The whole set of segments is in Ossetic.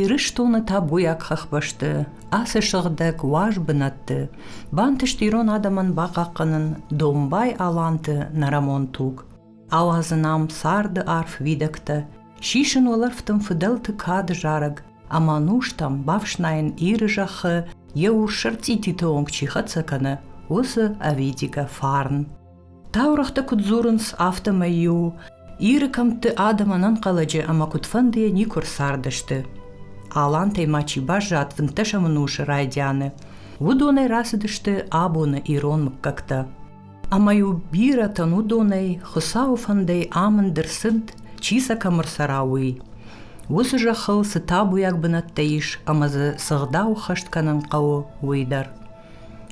Ирыстоны табуйаг хӕхбӕсты ацы сыгъдӕг уаз бынӕтты бантыст ирон адӕмӕн бахъахъхъӕнын домбай-аланты нӕрӕмон туг, ауадзын ам царды арф уидӕгтӕ, сисын уӕлӕрвтым фыдӕлты кад зарӕг ӕмӕ нустӕм бафснайын Иры зӕххы йӕ урс сӕрцъититы онг чи хӕццӕ кӕны, уыцы ӕвидигӕ фарн. Таурӕгътӕ куыд дзурынц, афтӕмӕй-иу Иры кӕмтты адӕм ӕнӕнхъӕлӕджы ӕмӕ куыдфӕндыйӕ никуы ӕрцардысты. Алантӕй ма чи баззад фынддӕсӕмон усы райдианы, уыдонӕй рацыдысты абоны ирон мыггӕгтӕ. Ӕмӕ-иу бирӕтӕн уыдонӕй Хуыцауы фӕндӕй амынд ӕрцыд, чи сӕ кӕм ӕрцӕра, уый. Уыцы зӕххыл цы табуйаг бынӕттӕ ис ӕмӕ дзы цы гъдау хӕст кӕнын хъӕуы, уый дӕр.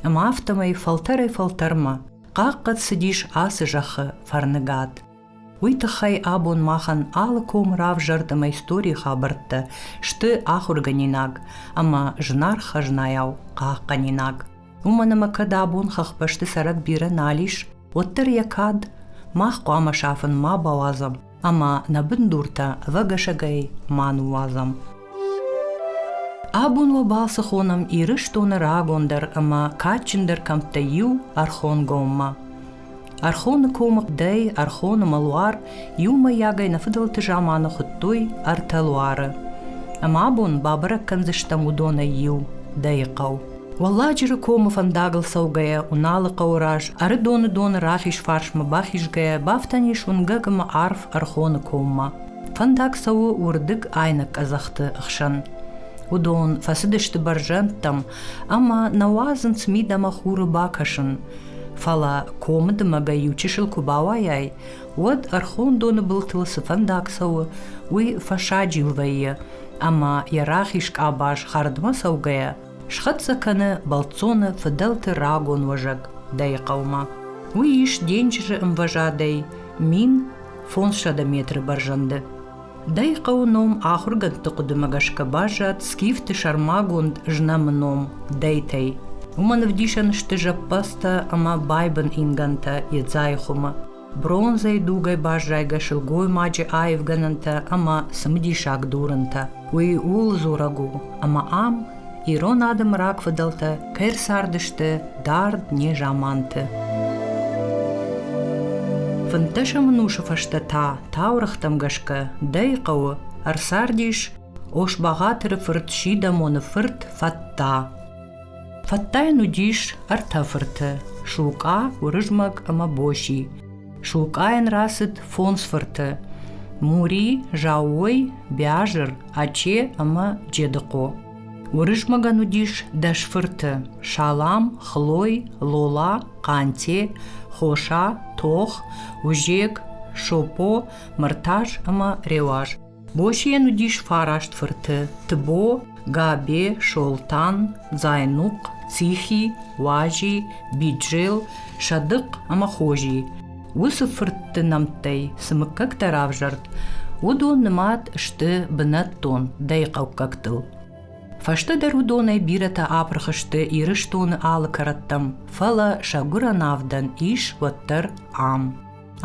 Ӕмӕ афтӕмӕй фӕлтӕрӕй-фӕлтӕрмӕ хъахъхъӕд цыдис ацы зӕххы фӕрныгад. Уый тыххӕй абон махӕн алы ком равзӕрд ӕмӕ историйы хабӕрттӕ сты ахуыргӕнинаг ӕмӕ зынаргъ хӕзнайау хъахъхъӕнинаг. Уымӕн ӕмӕ кӕд абон хӕхбӕсты цӕрӕг бирӕ нал ис, уӕддӕр йӕ кад мах хъуамӕ сафын ма бауадзӕм. ӕма нӕ бундуртӕ ӕвӕгӕсӕгӕй ма ниуазӕм. Абон уобӕл ци хонӕм Ирыстоны рагондӕр ӕма кадджындӕр кӕмттӕй иу – Ӕрхонгоммӕ. Ӕрхоны комы дӕй Ӕрхоны мӕлуар иумӕйагӕй нӕ фыдӕлты заманы хуыдтой ӕртӕ луары. Ӕмӕ абон бабӕрӕг кӕндзыстӕм уыдонӕй иу – Дӕйыхъӕу. Уӕлладжыры комы фӕндагыл цӕугӕйӕ Уыналы хъӕуы раз Ӕрыдоны доны рахизфарсмӕ бахизгӕйӕ бафтӕн ис уынгӕг ӕмӕ арф Ӕрхоны коммӕ. Фӕндаг цӕуы уырдыг айнӕг къӕдзӕхты хсӕн. Уыдон фӕцыдысты бӕрзӕндтӕм ӕмӕ нӕ уадзынц мид ӕмӕ хуры бакӕсын. Фӕлӕ комы дымӕгӕй иу чысыл куы бауайай, уӕд Ӕрхон доны былтыл цы фӕндаг цӕуы, уый фӕсаджил вӕййы, ӕмӕ йӕ рахиз къабаз хӕрдмӕ цӕугӕйӕ Схӕццӕ кӕны бӕлццоны фыдӕлты рагон уӕзӕг Дӕйы хъӕумӕ. Уый ис денджызы ӕмвӕзадӕй мин фондзсӕдӕ метры бӕрзӕнды. Дӕйы хъӕуы ном ахуыргӕндты хъуыдымӕ гӕсгӕ баззад скифты сӕрмагонд знӕмы ном Дӕйтӕй. Уымӕн ӕвдисӕн сты зӕппӕдзтӕ ӕмӕ байбын ингӕнтӕ Едзайы хуымы. Бронзӕйы дугӕй баззайгӕ сылгоймаджы аивгӕнӕнтӕ ӕмӕ цымыдисаг дурынтӕ. Уый ууыл дзурӕг у, ӕмӕ ам ирон адӕмы рагфыдӕлтӕ кӕй цардысты дард незаманты. Фынддӕсӕм ӕнусы фӕстӕ та таурӕгътӕм гӕсгӕ дӕй хъӕуы ӕрцардис Ошбӕгъатыры фырт Сидӕмоны фырт Фӕтта. Фӕттайӕн уыдис ӕртӕ фырты – Сулкъа, Уырызмӕг ӕмӕ Боси. Сулкъайӕн рацыд фондз фырты – Мури, Заууой, Биазыр, Аче ӕмӕ Джедыхъо. Уырызмӕгӕн уыдис дӕс фырты – Салам, Хлой, Лола, Хъанте, Хоса, Тох, Узек, Шопо, Мыртаз ӕмӕ Реуаз. Босийӕн уыдис фараст фырты, Тбо, Габе, Солтан, Дзайнухъ, Цихи, Уази, Биджел, Садыхъ ӕмӕ Хози. Уыцы фыртты нӕмттӕй цы мыггӕгтӕ равзӕрд, уыдон нымад сты бынӕттон дӕйхъӕуккӕгтыл. Фӕстӕдӕр уыдонӕй бирӕтӕ апырх сты Ирыстоны алы кӕрӕттӕм, фӕлӕ сӕ гуырӕн авдӕн ис уӕддӕр ам.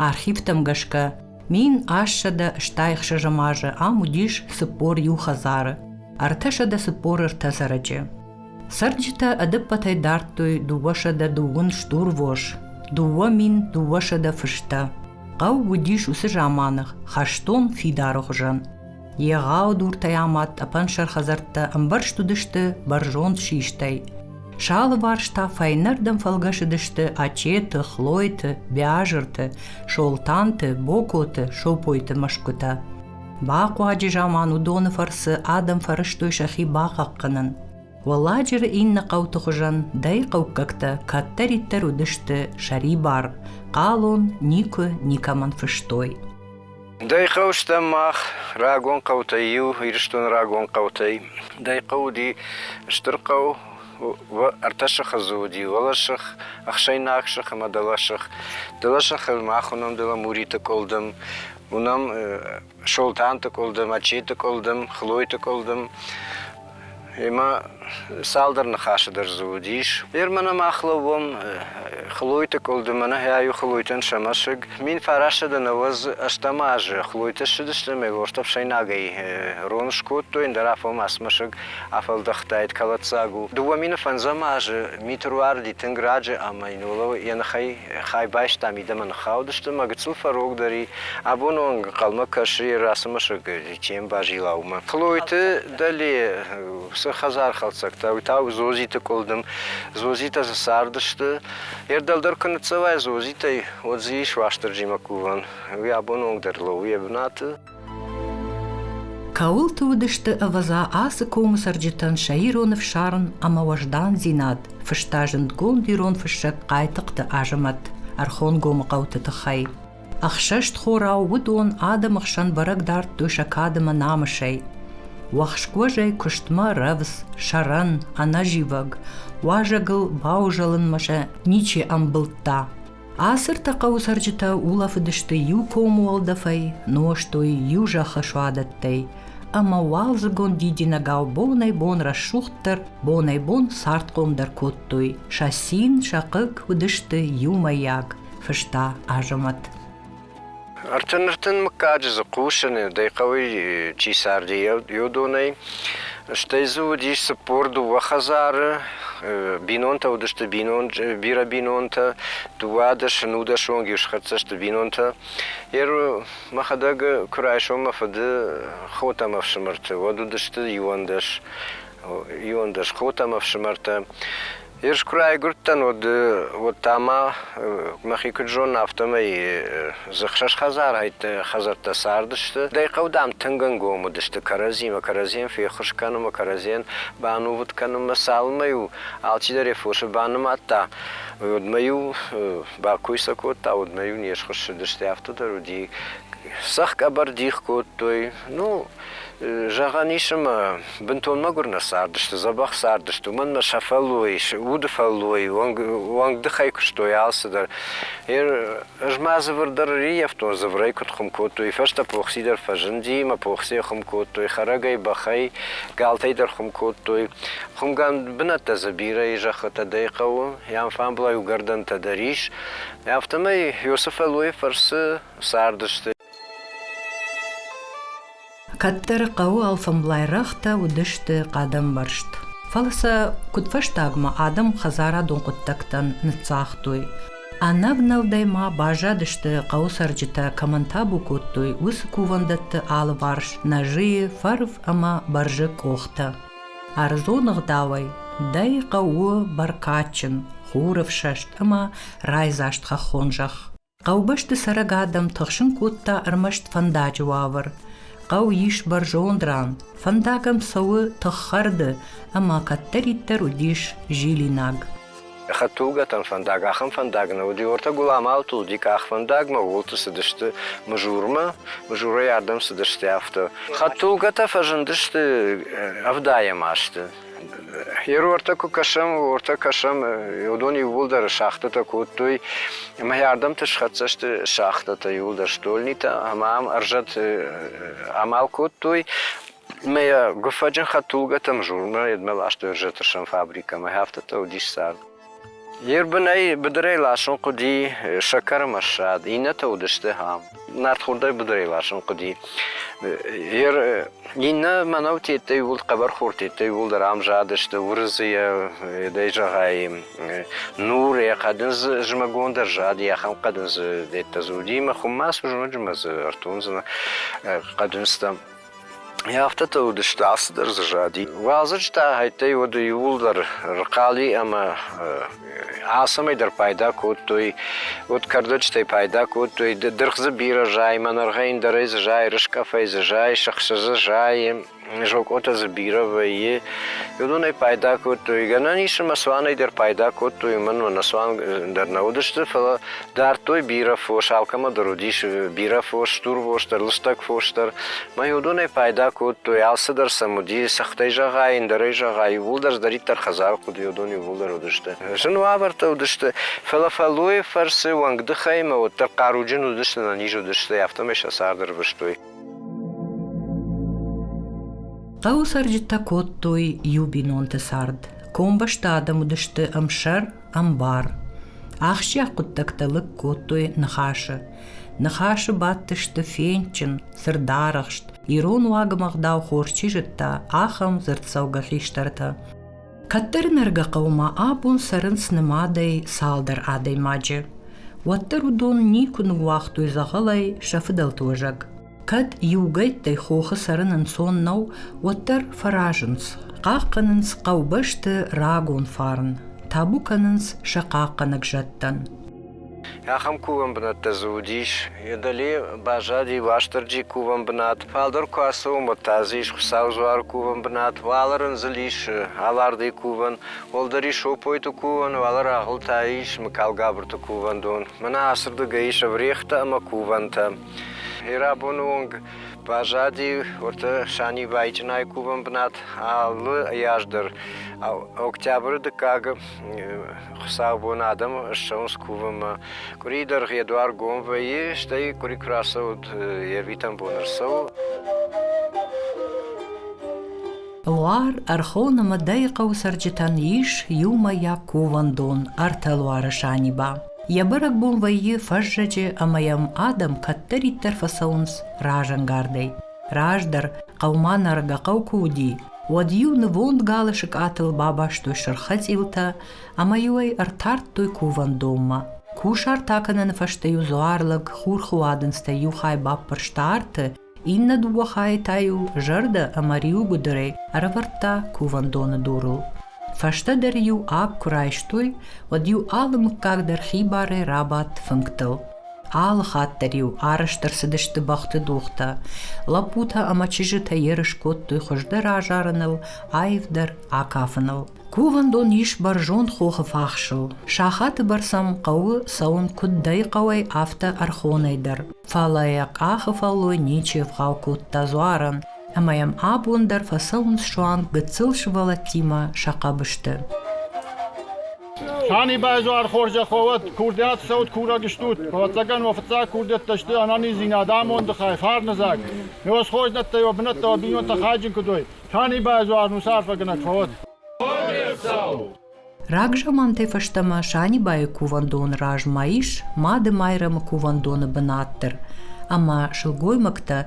Архивтӕм гӕсгӕ Мин ассӕдӕ стайхсы зымӕжы ам уыдис цыппор иу хӕдзары, ӕртӕсӕдӕ цыппор ӕртӕ цӕрӕджы. Цӕрджытӕ ӕдӕппӕтӕй дардтой дыууӕсӕдӕ дыууын стурвос, дыууӕ мин дыууӕсӕдӕ фыстӕ. Хъӕу уыдис уыцы заманы хӕстон фидары хуызӕн. Егъау дуртӕй амад тъӕпӕнсӕр хӕдзӕрттӕ ӕмбӕрзт уыдысты бӕрзонд систӕй. Салыварс та фӕйнӕрдӕм фӕлгӕсыдысты Ачеты, Хлойты, Бязырты, Солтанты, Бокоты, Сопойты мӕсгуытӕ. Бахъуаджы заман уыдоны фӕрцы адӕм фӕрӕзтой сӕхи бахъахъхъӕнын. Уӕлладжыры иннӕ хъӕуты хуызӕн дӕйхъӕуккӕгтӕ кӕддӕриддӕр уыдысты сӕрибар, хъалон никуы никӕмӕн фыстой. Дӕ хъӕу сты мах, рагон хъӕутӕй иу, Ирыстоны рагон хъӕутӕй. Дӕ хъӕу уыди стыр хъӕу, ӕртӕсыхы дзы уыди, уӕлӕсых, ӕхсӕйнагсых ӕмӕ дӕлӕсых. Дӕлӕсыхыл мах уынӕм Деламуриты къуылдым, уынӕм Солтанты къуылдым, Ачеты къуылдым, Хлойты къуылдым. Ӕмӕ цалдӕр ныхасы дӕр дзы уыдис. Ермана мах лӕууӕм Хлойты къуылды, мӕнӕ ӕиу Хлойтӕн сӕ мӕсыг. Мин фарасӕд ӕнӕуӕз ӕстӕм азы Хлойты ссыдысты ӕмӕ Лорты ӕфсӕйнагӕй рон скодтой, ӕндӕр афонмӕ мӕсыг афӕлдӕхтаид, кӕлӕддзаг у. Дыууӕ мины фӕндзӕм азы митыр уарыди тынг раджы ӕмӕ йын уӕлӕ йӕ ныхӕй хай байста, мидӕмӕ ныххаудысты мӕ гыццыл фӕрогдӕр и. Абоны онг ӕнхъӕлмӕ кӕсы, йӕ рацымысыг Кем базила уымӕ? Плойты Дӕле, уыцы хӕдзархӕлддзӕгтӕ, уый та у Зозиты къуылдым. Зозитӕ дзы цардысты. Йе рдӕлдӕр куы ныццӕвай Зозитӕй, уӕд дзы ис Уастырджимӕ кувӕн. Уый абон онгдӕр лӕууы йӕ бынаты. Кӕуылты уыдысты, ӕвӕдза, ацы комы цӕрджытӕн сӕ ирон ӕфсарм ӕмӕ уӕздандзинад, фыста зындгонд ирон фыссӕг Хъайтыхъты Азӕмӕт ӕрхонгомы хъӕуты тыххӕй. Ӕхсӕзтхорау уыдон адӕмы хсӕн бӕрӕг дардтой сӕ кадӕмӕ намысӕй. Уӕхскуӕзӕй куыстмӕ рӕвдз, сӕрӕн, ӕнӕзивӕг, уазӕгыл баузӕлынмӕ сӕ ничи ӕмбылдта. Асыртӕ хъӕуы цӕрджытӕ улӕфыдысты иу комы уӕлдӕфӕй, нозтой иу зӕххы суадӕттӕй, ӕмӕ уалдзыгон дидинӕгау бонӕй-бон рӕсугъддӕр, бонӕй-бон цардхъомдӕр кодтой. Сӕ цин, сӕ хъыг уыдысты иумӕйаг. фыста Азӕмӕт. Ӕртын-ӕртын мыггаджы дзы хъусын, дӕ хъӕуы чи царди, уыдонӕй. Стӕй дзы уыдис цыппор дыууӕ хӕдзары, бинонтӕ уыдысты бинон, бирӕ бинонтӕ, дыууадӕс-нудӕсонг иу схӕццӕ сты бинонтӕ. Мӕхӕдӕг куы райсом мӕ фыды хо ӕмӕ ӕфсымӕрты, уӕд уыдысты иуӕндӕс, иуӕндӕс хо ӕмӕ ӕфсымӕртӕ. Ерыс куы райгуырдтӕн, уӕд, уӕд та ма мӕхи куыд зонын, афтӕмӕй дзыхсӕз хӕдзарӕйты хӕдзӕрттӕ цардысты. Дӕ хъӕу, дам, тынг ӕнгом уыдысты кӕрӕдзимӕ, кӕрӕдзийӕн феххуыс кӕнынмӕ, кӕрӕдзийӕн банувыд кӕнынмӕ. Цалынмӕ-иу алчидӕр йӕ фосы банымадта, уӕдмӕ-иу бакой сӕ кодта, уӕдмӕ-иу не схуыссыдысты, афтӕ дӕр уыди. Цӕхх-къӕбӕр дих кодтой. Ну, Зӕгъӕн ис ӕмӕ бынтон мӕгуыр нӕ цардысты, дзӕбӕх цардысты, уымӕн ӕмӕ сӕ фӕллой, уды фӕллой, уӕнг, уӕнгдыхӕй куыстой алцыдӕр. Ӕз ма дзывыр дӕр ӕрӕййӕфтон, дзывырӕй куыд хуым кодтой, фӕстӕ Похси дӕр фӕзынди, мӕ Похсийӕ хуым кодтой, хӕрӕгӕй, бӕхӕй, галтӕй дӕр хуым кодтой. Хуымгӕнд бынӕттӕ дзы бирӕ и, зӕххытӕ дӕй хъӕуы, йӕм фӕмблай уыгӕрдӕнтӕ дӕр ис. Афтӕмӕй Иосы фӕллойы фӕрцы цардысты. Кӕддӕр хъӕуы алфӕмблайрӕгътӕ уыдысты хъӕдӕмбӕрзт. Фӕлӕ сӕ куыдфӕстагмӕ адӕм хӕдзарадон хъуыддӕгтӕн ныццагътой. Ӕнӕвнӕлдӕй ма баззадысты хъӕуы цӕрджытӕ кӕмӕн табу кодтой, уыцы кувӕндӕтты алыварс нӕзыйы, фӕрв ӕмӕ бӕрзы къохтӕ. Ӕрдзон ӕгъдауӕй дӕ хъӕуы бӕркадджын, хурӕфсӕст ӕмӕ райдзаст хӕххон зӕхх. Хъӕубӕсты цӕрӕг адӕм тыхсын кодта ӕрмӕст фӕндаджы уавӕр. Хъӕу ис бӕрзонд ран, фӕндагӕн цӕуы тыххӕрды, ӕмӕ кӕддӕриддӕр уыдис зилинаг. Хӕдтулгӕтӕн фӕндаг ахӕм фӕндаг нӕ уыди. Уӕртӕ Гуламалы тулди къахвӕндагмӕ ууылты цыдысты Мызурмӕ, Мызурӕй ардӕм цыдысты, афтӕ. Хӕдтулгӕтӕ фӕзындысты ӕвдаӕм азты. Йе руӕртӕ куы кӕсӕм, уортӕ кӕсӕм, уыдон иууылдӕр шахтӕтӕ кодтой, ӕмӕ йӕ ардӕмты схӕццӕ сты шахтӕтӕ иууылдӕр стольнитӕ, ӕмӕ ам ӕрзӕт амал кодтой. Ӕмӕ йӕ гуыффӕджын хӕдтулгӕтӕм журмӕ, едмӕ ластой ӕрзӕты сӕм фабрикӕмӕ, афтӕ уыдис цард. Йе рбынӕй быдырӕй ласын хъуыди сӕкӕрмӕссад, иннӕтӕ уыдысты ам. Нартхордӕй быдырӕй ласын хъуыди. Иннӕ мӕнӕу тедтӕй ууыл, хъӕбӕрхор тедтӕй ууыл дӕр ам задысты Уырызыйӕ, дӕй зӕгъай, нур йӕ хъӕдындзы зымӕгон дӕр зади, ахӕм хъӕдындзы дӕттӕ дзы уыди, мӕ хуыммӕ цы зоноджы мӕ дзы ӕртондзынӕ хъӕдындзтӕм. Афтӕ та уыдысты ацыдӕр дзы зади. Уазӕджытӕ хӕйттӕй уыд иууылдӕр рхъали ӕмӕ ацӕмӕй дӕр пайда кодтой, уыд кӕрдӕджытӕй пайда кодтой. Дыргъ дзы бирӕ зайы, мӕнӕргъӕйын дӕрӕй дзы зайы, рыскъӕфӕй дзы зайы, сыхсы дзы зайы, зокъотӕ дзы бирӕ вӕййы. Уыдонӕй пайда кодтой. Гӕнӕн ис ӕмӕ цуанӕй дӕр пайда кодтой, уымӕн ӕмӕ нӕ цуан дӕр нӕ уыдысты, фӕлӕ Дардтой бирӕ фос, алкӕмӕ дӕр уыдис бирӕ фос, стурвос дӕр, лыстӕг фос дӕр. Мӕй уыдонӕй пайда кодтой, алцыдӕр сӕм уыди, сыгътӕй зӕгъай, ӕндӕрӕй зӕгъай, иууылдӕр здӕриддӕр хӕдзары хъуыдыйы уыдон иууылдӕр уыдысты. Зын уавӕртӕ уыдысты, фӕлӕ фӕллойы фӕрцы, уӕнгдыхӕй ӕмӕ уӕддӕр хъаруджын уыдысты, нӕниз уыдысты, афтӕмӕй сӕ цард ӕрвыстой. Хъӕуы цӕрджытӕ кодтой иу бинонты цард. Комбӕсты адӕм уыдысты ӕмсӕр, Ӕмбар. Ахсджиаг хъуыддӕгтӕ лыг кодтой ныхасы. Ныхасы бадтысты фендджын, сырдарӕхст, ирон уагымгъдау хорз чи зыдта, ахӕм дзырддзӕугӕ хистӕртӕ. Кӕддӕр Нӕргӕхъӕумӕ абон цӕрынц нымадӕй цалдӕр адӕймаджы. Уӕддӕр уыдон никуы ныууагътой дзӕгъӕлӕй сӕ фыдӕлты уызӕг. Кӕд иугӕйттӕй хохы цӕрын ӕнцон нӕу, уӕддӕр фӕразынц. Хъахъхъӕнынц хъӕубӕсты рагон фарн, табу кӕнынц сӕ хъахъхъӕнӕг зӕдтӕн. Ахӕм кувӕн бынӕттӕ дзы уыдис, йӕ дӕли баззади Уастырджи кувӕн бынат, фалдӕр куы ацӕуы, уӕд та дзы ис Хуыцауы дзуары кувӕн бынат, уӕлӕ рындзыл ис Алардыйы кувӕн, уӕлдӕр ис Сопойты кувӕн, уӕлӕ рагъыл та ис Мыкалгабырты кувӕндон. Мӕнӕ ацырдыгӕй ис ӕврӕгътӕ ӕмӕ кувӕнтӕ. Бирӕбоны онг баззади уырды Санибайы чъынайы кувӕн бынат. Алы аз дӕр октябры дыккагы хуыцаубоны адӕм ссӕуынц кувынмӕ. Къуыри дӕргъ йӕ дуар гом вӕййы, стӕй къуыри куы рацӕуд, йӕ витӕн бон ӕрцӕуы. Луар Ӕрхонымы дӕйы хъӕуы цӕрджытӕн ис иумӕйаг кувӕндон ӕртӕ луары Саниба. Йӕ бӕрӕгбон вӕййы фӕззӕджы ӕмӕ йӕм адӕм кӕддӕриддӕр фӕцӕуынц разӕнгардӕй. Раздӕр хъӕумӕ Наргахъӕу куы уыди, уӕд-иу нывонд галы сыкъатыл бабастой сырххӕцъилтӕ ӕмӕ-иу ӕй ӕртардтой кувӕндонмӕ. Кусарт акӕныны фӕстӕ-иу дзуарлӕг хурхы уадындзтӕй иу хай баппӕрста арты Иннӕ дыууӕ хайы та-иу зӕрдӕ ӕмӕ риуыгуыдырӕй ӕрӕвӕрдта кувӕндоны дурыл. Фӕстӕдӕр-иу ӕп куы райстой, уӕд-иу алы мыггаг дӕр хибарӕй рабадт фынгтыл. Алы хатт дӕр-иу арӕзт ӕрцыдысты бӕхты дугътӕ. Лӕппутӕ ӕмӕ чызджытӕ ерыс кодтой хуыздӕр азарыныл, аивдӕр акафыныл. Кувӕндон ис бӕрзонд хохы фахсыл. Сахаты бӕрц ӕм хъӕуы цӕуын куыд дӕй хъӕуӕй, афтӕ ӕрхонӕй дӕр. Фӕлӕ йӕ къахы фӕллой ничи ӕвгъау кодта дзуарӕн, ӕмӕ йӕм абон дӕр фӕцӕуынц суанг гыццыл сывӕллӕттимӕ сӕ хъӕбысты. Санибайы дзуар хорзӕххо уӕд, курдиат цӕут, курӕг стут. Ӕвӕццӕгӕн уӕ фыццаг курдиӕттӕ сты ӕнӕниздзинад, амонды хай, фарны дзаг. Ме усхойднӕттӕ, уӕ бынӕттӕ, уӕ бинонтӕ хайджын куыд уой. Танибай дзуар мусафӕгӕнӕг фӕуӕд. Рагзамантӕй фӕстӕмӕ Санибайы кувӕндоны размӕ ис Мады Майрӕмы кувӕндоны бынат дӕр, ӕмӕ сылгоймӕгтӕ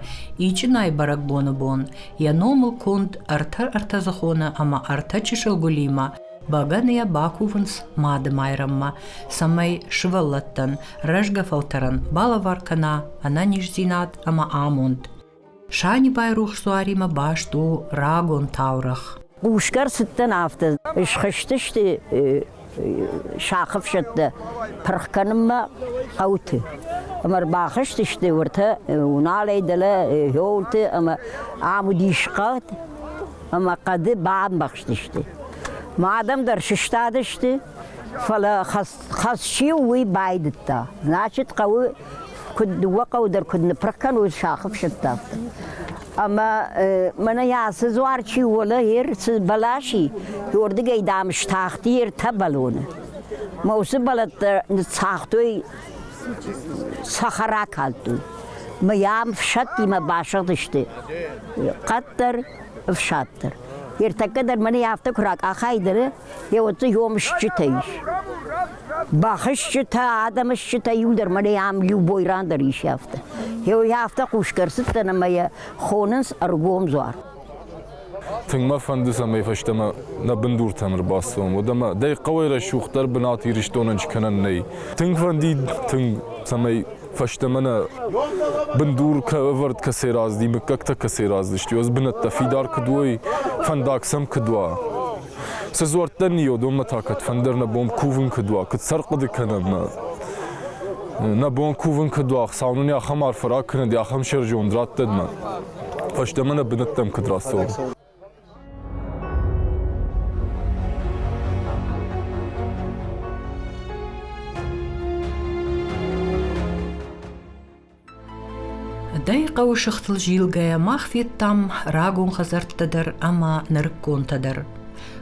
ичынайы бӕрӕгбоны бон йӕ номыл конд ӕртӕ ӕртӕдзӕхоны ӕмӕ ӕртӕ чысыл гуылимӕ бӕгӕныйӕ бакувынц Мады Майрӕммӕ, цӕмӕй сывӕллӕттӕн рӕзгӕ фӕлтӕрӕн балӕвар кӕна ӕнӕниздзинад ӕмӕ амонд. Санибайы рухс дзуаримӕ баст у рагон таурӕгъ. Хъусгар цыдтӕн афтӕ, схызтысты сӕхъыфсӕттӕ пырх кӕнынмӕ хъӕуты. Ӕмӕ ӕрбахызтысты уыртӕ Уналӕй дӕлӕ Хёлты ӕмӕ ам уыдис хъӕд, ӕмӕ хъӕды бамбӕхстысты. Ма адӕм дӕр сыстадысты, фӕлӕ хӕц хӕс чи у, уый байдыдта. Значит, хъӕуы куыд дыууӕ хъӕуы дӕр куыд ныппырх кӕной сахы фсӕдтӕ. Ӕмӕ мӕнӕ йӕ ацы дзуар чи уолӕ ир цы бӕласи, уырдыгӕй дам стахти ертӕ бӕлоны. Мӕ уыцы бӕлӕттӕ ныццагътой цӕхӕра калдтой. Мӕ йӕм фсӕдтимӕ басыгъдысты къаддӕр, ӕфсаддӕр. Ертӕккӕ дӕр мӕнӕ афтӕ куы ракъахай дӕр, Еуӕдзы ёмысджытӕ ис. Бахызджытӕ, адӕмысджытӕ иу дӕр мӕнӕ ам иу бойран дӕр ис афтӕ. Еуй афтӕ хъусгӕ ӕрцыдтӕн ӕмӕ йӕ хонынц ӕргом дзуар. Тынг мӕ фӕнды, цӕмӕй фӕстӕмӕ нӕ бындуртӕн ӕрбацӕуӕм, уӕд ӕмӕ дӕ хъӕуӕй рӕсугъддӕр бынат Ирыстонӕн скӕнӕн нӕй. Тынг фӕнди тынг, цӕмӕй фӕстӕмӕ нӕ бындур ӕвӕрд кӕцӕй рацыди, мыггӕгтӕ кӕцӕй рацыдысты, ӕз бынӕттӕ фидар куыд уой, фӕндаг сӕм куыд уа. Цы дзуӕрттӕ ниод, уымӕ та кӕд фӕндыр нӕ бон кувын куыд уа, куыд сӕр хъуыды кӕнӕм нӕ? Нӕ бон кувын куыд уа, Хуыцау нын ахӕм арф рак кӕнӕд, ахӕм сӕрджыонд радтӕд нӕ. Фӕстӕмӕ нӕ бынӕттӕм куыд рацӕуӕм? Дӕ хъӕуы сыхтыл зилгӕйӕ мах федтам рагон хӕдзӕрттӕ дӕр ӕмӕ нырыкконтӕ дӕр.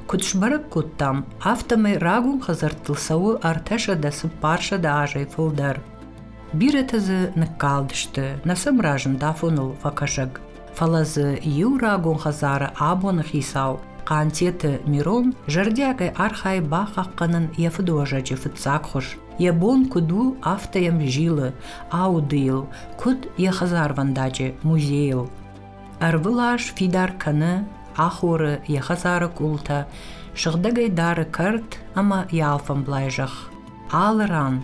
Куыд сбӕрӕг кодтам, афтӕмӕй рагон хӕдзӕрттыл цӕуы ӕртӕсӕдӕ цыппарсӕдӕ азӕй фылдӕр. Бирӕтӕ дзы ныккалдысты, нӕ сӕм разынд афоныл фӕкӕсӕг. фӕлӕ дзы иу рагон хӕдзары абоны хицау Хъантеты Мирон зӕрдиагӕй архайы бахъахъхъӕнын йӕ фыдыуӕзӕджы фыццаг хуыз. Йӕ бон куыд у, афтӕ йӕм зилы аудыйыл, куыд йӕ хӕдзарвӕндаджы музейыл. Ӕрвылаз фидар кӕны, ахоры йӕ хӕдзары къултӕ, сыгъдӕгӕй дары кӕрт ӕмӕ йӕ алфӕмблай зӕхх. Алы ран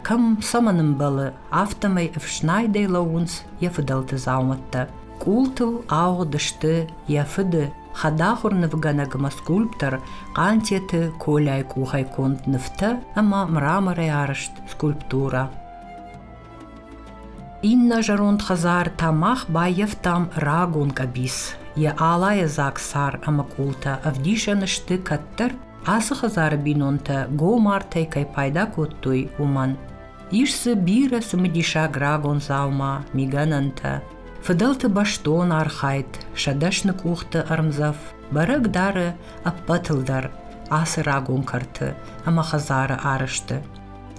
Кӕм цӕмӕн ӕмбӕлы, афтӕмӕй ӕфснайдӕй лӕууынц йӕ фыдӕлты дзаумӕттӕ. Къултыл ауыгъд сты йӕ фыды хӕдахуыр нывгӕнӕгмӕ скульптор Хъантеты Коляйы къухӕй конд нывтӕ ӕмӕ мраморӕй арызт скульптурӕ. Иннӕ зӕронд хӕдзар та мах баййӕфтам рагон къӕбиц. Йӕ алайы дзаг сар ӕмӕ къултӕ ӕвдисӕн сты кӕддӕр Ацы хӕдзары бинонтӕ гомартӕй кӕй пайда кодтой, уымӕн. Ис дзы бирӕ цымыдисаг рагон дзаума, мигӕнӕнтӕ, фыдӕлты бӕстон архайд, сӕ дӕсны къухты ӕрмдзӕф. Бӕрӕг дары ӕппӕтыл дӕр ацы рагон кӕрты ӕмӕ хӕдзары арӕзты.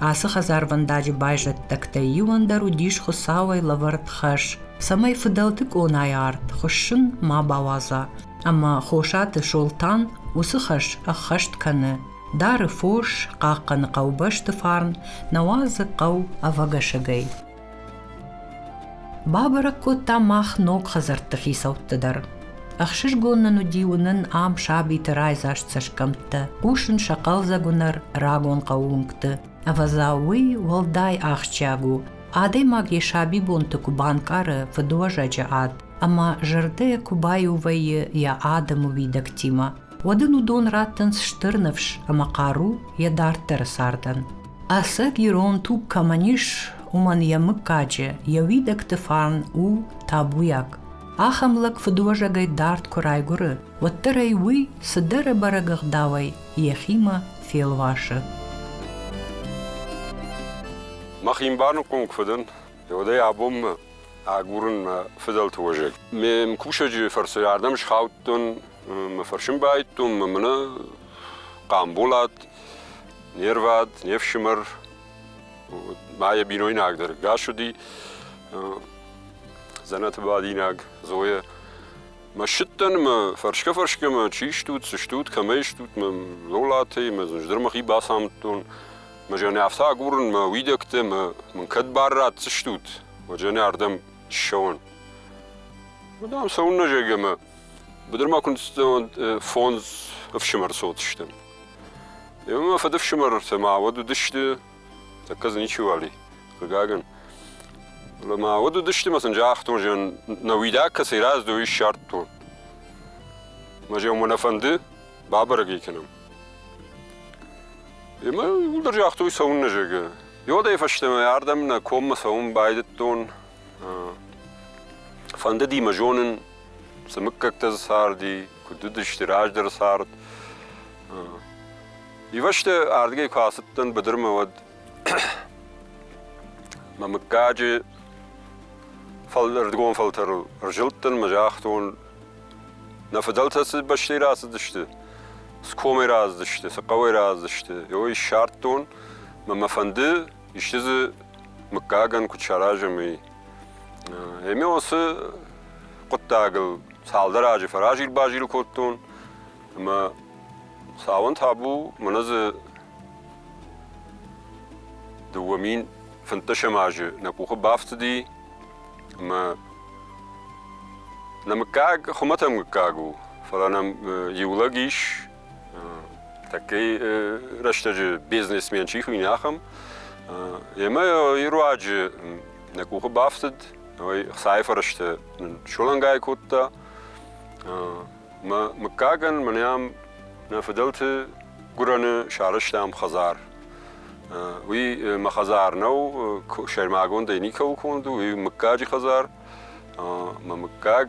Ацы хӕдзарвӕндаджы байзӕддӕгтӕй иуӕн дӕр уыдис Хуыцауӕй лӕвӕрд хӕс, цӕмӕй фыдӕлты къонайы арт хуыссын ма бауадза, ӕмӕ Хосаты Солтан уыцы хӕс ӕххӕст кӕны. Дары фос, хъахъхъӕны хъӕубӕсты фарн, науӕдзы хъӕу ӕвӕгӕсӕгӕй. Бабӕрӕг кодта мах ног хӕдзӕртты хицӕутты дӕр. Ӕхсызгон нын уыди уынын ам сабиты райдзаст цӕсгӕмттӕ, хъусын сӕ хъӕлдзӕг уынӕр рагон хъӕууынгты. Ӕвӕдза, уый уӕлдай ахсджиаг у, адӕймаг йӕ сабибонты куы банкъары фыдуӕзӕджы ад ӕмӕ зӕрдӕ куы баиу вӕййы йӕ адӕмы уидӕгтимӕ. уӕд ын уыдон раттынц стыр ныфс ӕмӕ хъару йӕ дарддӕры цардӕн. Ӕцӕг ирон туг кӕмӕн ис, уымӕн йӕ мыггаджы, йӕ уидӕгты фарн у табуйаг. Ахӕм лӕг фыдуӕзӕгӕй дард куы райгуыры, уӕддӕр ӕй уый цыдӕр ӕбӕрӕг ӕгъдауӕй йӕхимӕ фелвасы. Мӕхи баныхъхъуын фыдӕн, уӕдӕй абонмӕ агурын мӕ фыдӕлты уӕзӕг. Ме кусӕджы фӕрцы ардӕм схаудтон Мӕ фӕрсын баидтон мӕ мынӕ Хъамболат, не рвад, не фсымӕр, ма йӕ бинойнагдӕр Гаш уыди, дзӕнӕты бадинаг Зойӕ. Мӕ ссыдтӕн мӕ фӕрсгӕ-фӕрсгӕ мӕ чи стут, цы стут, кӕмӕй стут, мӕ Лолатӕй, мӕ зындӕр мӕхи бацамыдтон. Мӕ жанӕфтӕ агурын мӕ уидӕгтӕ, мӕ мын кӕд бар ратдзыстут, уӕ жанӕ ардӕм ссӕуӕн. Дам, цӕуыннӕ зӕгӕ мӕ Быдырмӕ куынд фондз ӕфсымӕр цыдысты. Иумӕ фыдыфсымӕртӕ ма уӕд уыдысты, тӕккӕ дзы ничи уали, хъыгагӕн. Фӕлӕ ма уӕд уыдысты, ма сын загътон, зӕн нӕ уидаг кӕцӕй раздой, ссардтон. Мӕ зӕн мӕ нӕ фӕнды бабӕрӕг ӕй кӕнӕм. Ӕмӕ уыдӕр загътой цӕуыннӕ зӕгӕ. Иодӕй фӕстӕмӕ ардӕм нӕ коммӕ цӕуын байдыдтон. Фӕндыди мӕ зонын, цы мыггӕгтӕ дзы царди, куыд уыдысты раздӕры цард. Ивӕзты ардыгӕй куы ацыдтӕн быдырмӕ, уӕд мӕ мыггаджы ӕрдгон фӕлтӕрыл ӕрзылдтӕн мӕ загътон, нӕ фыдӕлтӕ цы бӕстӕй рацыдысты, цы комӕй рацыдысты, цы хъӕуӕй рацыдысты, ой ссардтон. Мӕ фӕнды исчи дзы мыггагӕн куыд саразӕм, уый. Ӕмӕ уыцы хъуыддагыл цалдӕр азы фӕразил-базил кодтон, ӕмӕ цауӕн табу мӕнӕ дзы дыууӕ мин фынддӕсӕм азы нӕ къухы бафтыди, ӕмӕ нӕ мыггаг хуымӕтӕг мыггаг у, фӕлӕ нӕм иу лӕг ис, Тӕккӕ рӕстӕджы бизнесмен чи хуыйны, ахӕм. Емӕ йӕ руаджы нӕ къухы бафтыд, хцайы фӕрӕзтӕ сылӕнгай кодта. Мӕ мыггагӕн мӕн ам нӕ фыдӕлты гуырӕны сарӕзтам хӕдзар. Уый мӕ хӕдзар нӕу, сӕрмагондӕй никӕуыл конд у, уый мыггаджы хӕдзар. Мӕ мыггаг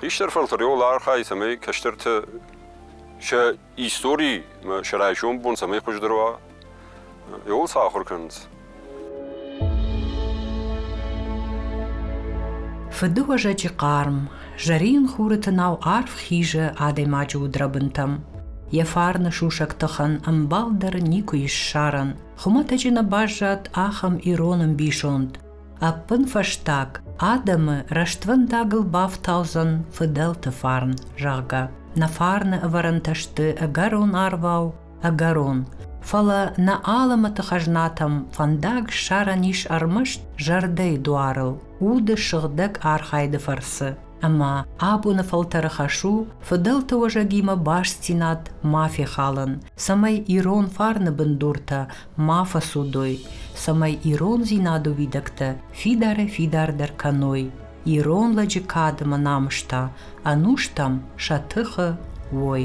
Хистӕр фӕлтӕреуыл архайы, цӕмӕй кӕстӕрты сӕ истори сӕ райсом бон цӕмӕй хуыздӕр уа, ewol сӕ ахуыр кӕнынц. Фыдыуӕзӕджы хъарм, зӕрин хуры тынау арф хизы адӕймаджы удрӕбынтӕм. Йӕ фарны сусӕг тыхӕн ӕмбал дӕр никуы ссарӕн. Хуымӕтӕджы нӕ баззад ахӕм ирон ӕмбисонд. Ӕппынфӕстаг, адӕмы рӕствӕндагыл бафтаудзӕн фыдӕлты фарн, зӕгъгӕ. Нӕ фарны ӕвӕрӕнтӕ сты ӕгӕрон арвау, ӕгӕрон. Фӕлӕ нӕ алымыты хӕзнатӕм фӕндаг ссарӕн ис ӕрмӕст зӕрдӕйы дуарыл, уды сыгъдӕг архайды фӕрцы. Ӕмӕ абоны фӕлтӕры хӕс у фыдӕлты уӕзӕгимӕ бастдзинад ма фехалын, цӕмӕй ирон фарны бындуртӕ ма фӕцудой, цӕмӕй ирондзинады уидӕгтӕ фидарӕй-фидардӕр кӕной, ирон лӕджы кадмӕ намыста ӕнустӕм сӕ тыхы уой.